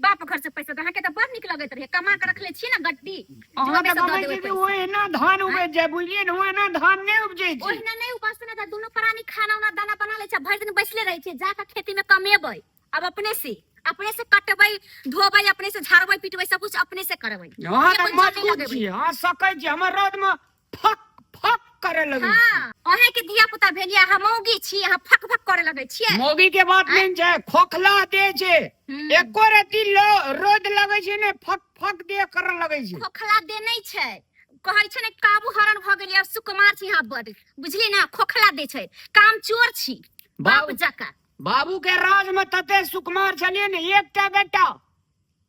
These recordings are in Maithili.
बाप घर से पैसा दहा के तो बड़ निक लगत रहे कमा के रखले छी ना गड्डी अहाँ जवाबे तऽ से दऽ कहबै देबै छी जे पैसा। ओहिना धान उपजि जाय बुझलियै ने ओहिना धान नहि उपजै छै ओहिना नहि उपजते ना तऽ दुनू प्राणी खाना उना दाना बना लै छै भरि दिन बैसले रहै छै जाके खेती में कमेबै अब अपने से अपने से कटबै धोबै अपने से झाड़बै पीटबै सब कुछ अपने से करबै अहाँ तऽ अपने कोइ मजबूत जमीन लगेबै। छी अहाँ सकै छी हमर रौदमे फक फक करे लगे हाँ अहे के धिया पुता भेलिया हम मौगी छी अहाँ फक फक करे लगे छियै मौगी के बात नहीं छै खोखला दे छै हम्म। एको रति लो- रोद लगे छै ने फक फक दे कर लगे छै खोखला दे नहीं छै कहै छै ने काबू हरण भ गेलियै आब सुकुमार छी अहाँ बड बुझली ना खोखला दे छै काम चोर छी बाप बाबू- जका बाबू के राज में तते सुकुमार छलिए ने एकटा बेटा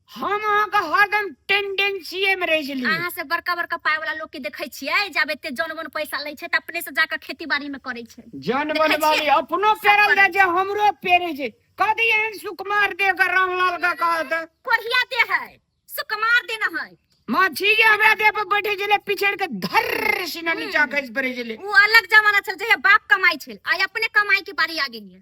हम अहाँके हरदम टेंडेंसीए में रह जली अहाँ से बड़का बड़का पाय वाला लोग के देखे छियै जब एते जन बन पैसा लै छै तऽ अपने से जाकर खेती बाड़ी में करे छै जन देखै बन वाली छियै? अपनो सब पेरल करै दे जे हमरो पेरे जे कदी एहन सुकुमार दे के रामलाल का कहत कोढ़िया दे है सुकुमार दे न है माछी जे हमरा दे पर बैठे जले पिछड़ के धर सिना नीचा खस पड़े जले उ अलग जमाना छल जहिया बाप कमाई छल आइ अपने कमाई के बारी आ गेलियै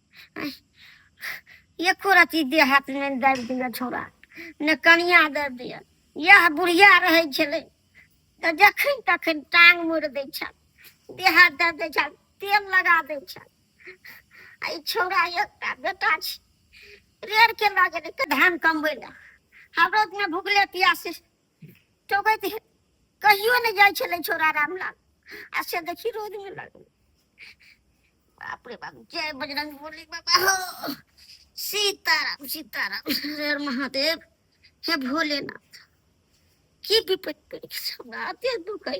एको रति देह हाथ नहि दाबि दिया छोड़ा ने कनिया दाबि दिया यह बुढ़िया रहै छलै तऽ जखन तखन टांग मोड़ि दै छल देह हाथ दए दै छल तेल लगा दै छल आ ई छौड़ा एकटा बेटा छै रेड़ के लऽ गेलै धान कमबै लए हमरो भूखले पियासे ठोकैत हे- कहियो नहि जाइ छलै छोरा रामलाल आ से देखी रोड में लगल बाप रे बाप जय बजरंग बोली बाबा हो सीताराम सीताराम हर महादेव हे भोलेनाथ की विपत्ति पड़ी हमरा अते दुख है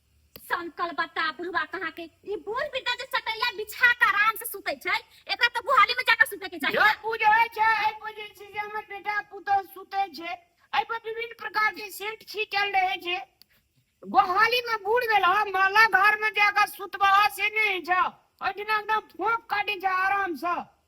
संकल बता बुढ़वा कहाँ के ई बूढ़ बिरदा जे सटैया बिछा के आराम से सुते छै एकरा तो गुहाली में जाकर सुते के चाहिए जब पूजा होइ छै एहि पर जे छै से हमर बेटा पुतहु सुतै छै एहि पर विभिन्न प्रकार के सेंट छीटल रहै छै गोहाली में बूढ़ भेला माला घर में जाकर सुतबा से नहि होइ छै ओहिठिना एकदम फोक काटै छै आराम से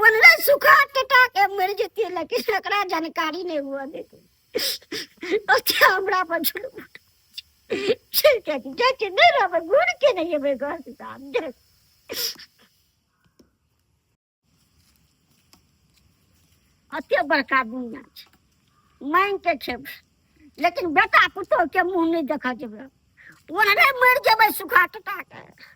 वल्लह सुखा टटा के मर जेते लेकिन एकरा जानकारी नहीं हुआ देते ओते हमरा पर झुलम चल के जा के नहीं रहबे घूर के नहीं एबे घर से साहब जा अते बड़का दुनिया छै मांग के खेब लेकिन बेटा पुतोह के मुंह नहीं देखा जेबे ओनरे मर जेबे सुखा टटा के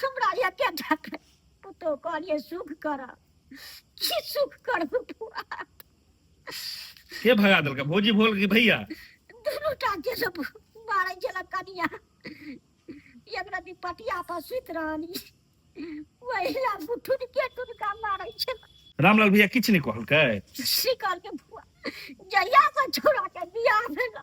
हमरा एके ढक पुतो कहलिए सुख कर की सुख कर बुआ के भगा देलका भौजी भोल की भैया दुनू टा के सब मारे छला कनिया एक राति पटिया पर सुत रहनी वही ला बुठुन के टुनका मारे छला रामलाल भैया किछ नहीं कहलकै सी करके बुआ जहिया से छोड़ा के बियाह भेला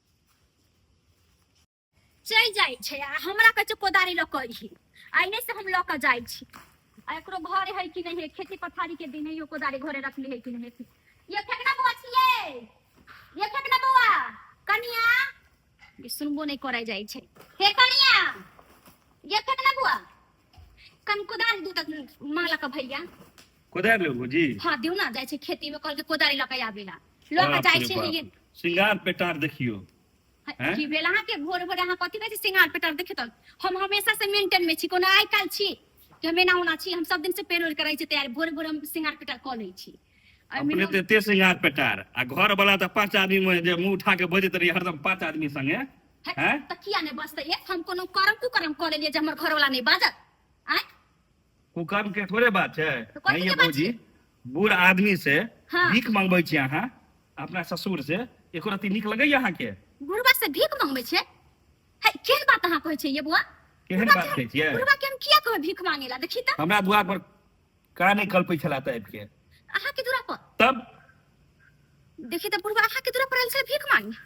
चलि जाइ छै आ हमरा कहै छै कोदारी लऽ कऽ अइहे आ एने से हम लऽ कऽ जाइ छी आ एकरो घरे है कि नहीं है खेती पथारी के दिन है यो कोदारी घरे रखली है कि नहीं है ये फेंक ना बौआ छियै ये फेंक ना बौआ कनिया ये सुनबो नहीं करे जाइ छै हे कनिया ये फेंक ना बौआ कन कोदारि दू तक माला का भैया कोदारि लेबू जी हाँ दियो ना जाए छे खेती में कल के कोदारि लके आवेला लके बाप जाए रे छे बाप। ये श्रृंगार पेटार देखियो हैं? की भेला अहाँ के भोर भोर अहाँ कथी कहै छी सिंगार पेटर देखे तक हम हमेशा से मेंटेन में छी कोनो आइ काल छी कि हम एना ओना छी हम सब दिन से पेरोल करै छी तैयार भोर भोर हम सिंगार पेटर कऽ लै छी आ अपने मिनम- ते एते श्रृंगार पेटार आ घर वाला तऽ पांच आदमी में जे मुंह उठा के बजैत रही हरदम पांच आदमी संगे हट, हैं? त किया नहीं बजते ये हम कोनो कर्म कुकर्म कर लेलिए जे हमर घर वाला नहीं बाजत आय कुकर्म के थोड़े बात छै तो कथी नहीं ये के बात भौजी बूढ़ आदमी से हाँ। भीख मंगबै छी अहाँ अपना ससुर से एको रति नीक लगैए अहाँके बुढ़वा से भीख मांगबे छे है केन बात अहाँ कहै छे ये बुआ केहन बुढ़वा बात के- कहै छियै? बुढ़वा के हम किया कहै भीख मांगेला देखी त हमरा दुआर पर का नहीं कल पैसा लाता है के अहा के दूरा पर तब देखी त बुढ़वा अहा के दूरा पर आइल से भीख मांगी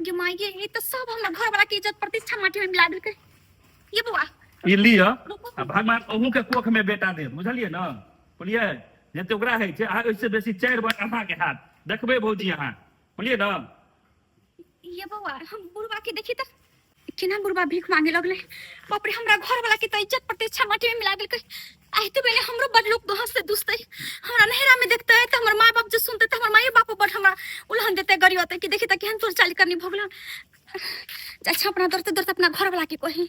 जे माई ये ये तो सब हमर घर वाला के इज्जत प्रतिष्ठा माटी में मिला देलकै ये बुआ ये लिय आ रुको भगवान अहू के कोख में बेटा दे बुझलिए ना बोलिए जते ओकरा है छै आ ओइसे बेसी चार बार अहा के हाथ देखबे भौजी अहा बोलिए ना ये बौआ हम बुढ़वा के देखी त केना बुढ़वा भीख मांगे लगले बाप रे हमरा घर वाला के त इज्जत प्रतिष्ठा माटी में मिला देलकै आइ तो बेले हमरो बड़ लोग गहस से दुसतै हमरा नहरा में देखतै त हमर माय बाप जे सुनतै त हमर माय बाप बड़ हमरा उलहन देतै गरी होतै कि देखी त केहन चोर चाली करनी भगलन जा छपना दरते दरते अपना घर वाला के कही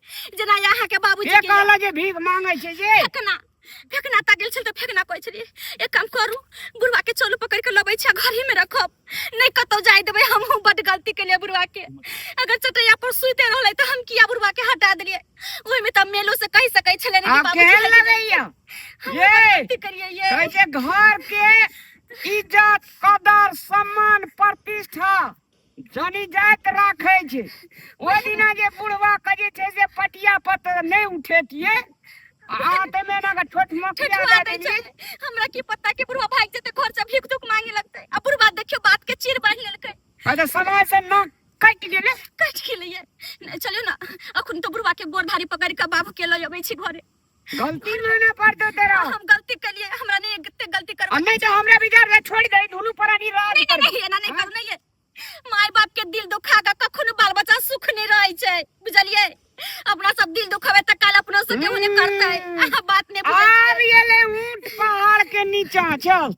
जेना यहाँ के बाबूजी के कहला जे भीख मांगे छै जे फेकना फेकना ता गेल छल त फेकना कहै छली एक काम करू बुढ़वा के चोलू पकड़ के लबै छै घर ही में रखब नै कतौ जाय देबै हम हम बड गलती के लिए बुढ़वा के अगर चटैया पर सुते रहले त हम किया बुढ़वा के हटा देलिए ओइ में त मेलो से कह सकै छले ने बाबूजी केहन लगैया ये गलती करिए ये कहै छै घर के इज्जत कदर सम्मान प्रतिष्ठा जनी जात राखे छे ओ दिना जे बुढ़वा के जे छे से पटिया पत नै उठेतिए आ ते में ना छोट मकिया दे देली हमरा की पता के बुढ़वा भाग जते घर से भीख दुख मांगे लगते आ बुढ़वा देखियो बात के चीर बांध लेलकै अरे समय से ना कट गेले कट गेले चलियो ना अखन तो बुढ़वा के गोर धारी पकड़ के बाबू के लय अबै छी घरे गलती माने पर दे तेरा हम गलती कर लिए हमरा नहीं कितने गलती कर हम नहीं तो हमरा बिगाड़ दे छोड़ दे दोनों पर नहीं रह नहीं नहीं नहीं ना नहीं कर नहीं है माय बाप के दिल दुखा का कखनो बाल बच्चा सुख नहीं रहै छै बुझलिए अपना सब दिल दुखावे त काल अपना से के होने करतै हम्म। आ बात नहीं बुझै आ रियले ऊंट पहाड़ के नीचा चल